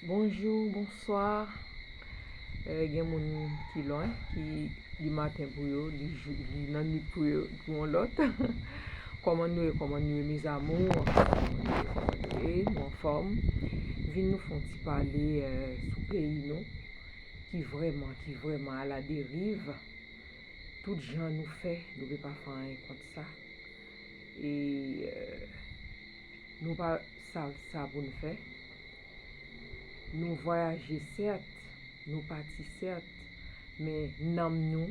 Bonjou, bonswa Gen moun ki lwen ki li maten pou yo li nannuit pou yo pou yon lòt Kòman nou ye kòman nou ye mes amours Kòman nou ye kòman nou ye nou anfòm Vin nou fè yon ti pale sou peyi nou ki vrèman ki vrèman ala deriv Tout jan nou fè nou gen pa fè anyen kont sa e Nou pa sal sa pou n fè. Nou vwayaje sèt, nou pati sèt, men nanm nou,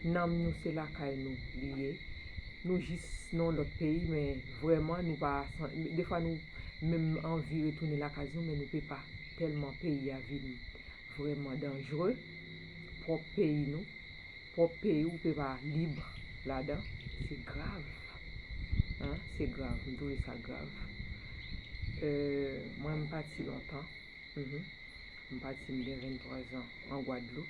nanm nou se lakay nou li ye. Nou jis nan yon lòt peyi men vrèman nou pa, defwa nou menm anvi retounen lakay nou men nou pe pa tèlman peyi a vin vrèman danjre, pwòp peyi nou. pwòp peyi ou pepa libre ladan se grav hein se grav m trouve sa grav mwen m pati lontan m pati m gen 23 zan an gwadloup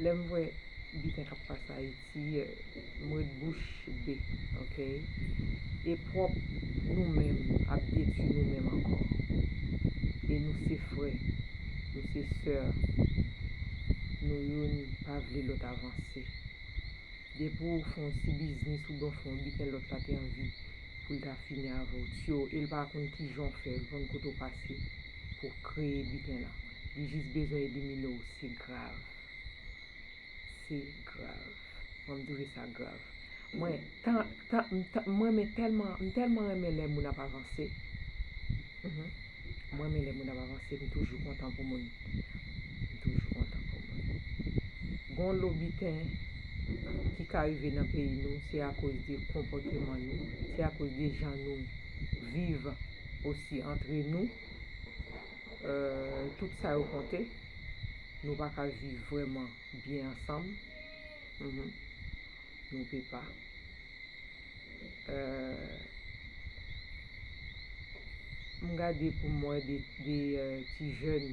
lèm wè biten kap pase ayiti. Seyè m ret bouch be ok. E prop nou menm ap detwi nou menm ankò e nou se frè nou se soeur nou youn pa vle lot avanse depi w fè yon ti biznis ou byen w fè yon biten lot la te anvi poul ta fini avè w tyo e l pa konn kijan w fè l konn kote w pase pou w kreye biten lan li jis bezwen elimine w se grav. Se grav. Mwen m twouve sa grav. Mwen tan tan m tan m renmen tèlman m tèlman renmen lè moun ap avanse mph m renmen lè moun ap avanse m toujou kontan pou moun m toujou kontan pou moun gon lo biten ki ka rive nan peyi nou se akoz de konpòteman nou se akoz de jan nou viv osi antre nou eeuh tout sa yo konte. Nou pa ka viv vrèman byen ansanm. Nou pe pa. M gade pou m wè 2 ti jèn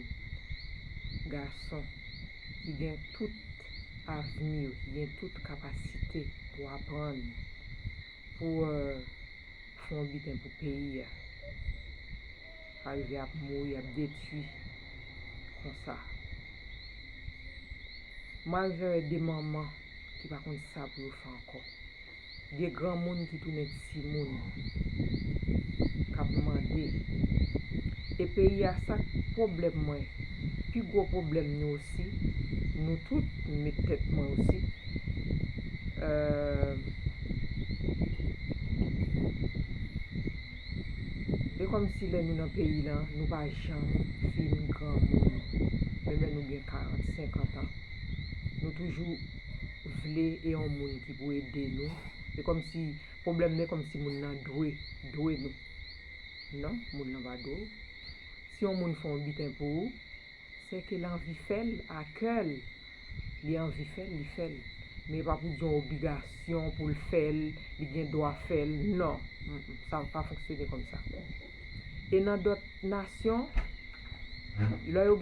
gason ki gen tout avni yo, ki gen tout kapasite pou aprann, pou fè yon biten pou peyi a. Pa rive ap mouri ap detui konsa. Mal vere de manman ki pa konn sa pou yo fè ankò. De granmoun ki tounen timoun kap mande. E peyi a sak pwoblèm mwen pi gwo pwoblèm nou osi nou tout m met tèt mwen osi euh. E kòmsi lè nou nan peyi lan, nou pa janm fin granmoun. Menm lè nou gen 40, 50 an. Nou toujou vle e yon moun ki pou ede nou. E kòmsi, pwoblèm nan e kòmsi moun nan dwe, dwe nou. Non, moun lan pa dwe ou. Si yon moun fè yon biten pou ou. Se kel anvi fèl a kèl li anvi fèl li fèl men epa pou di yon obligasyon poul fèl li gen dwa fèl nan sa pa fonksyone kòmsa e nan dòt nasyon lè yo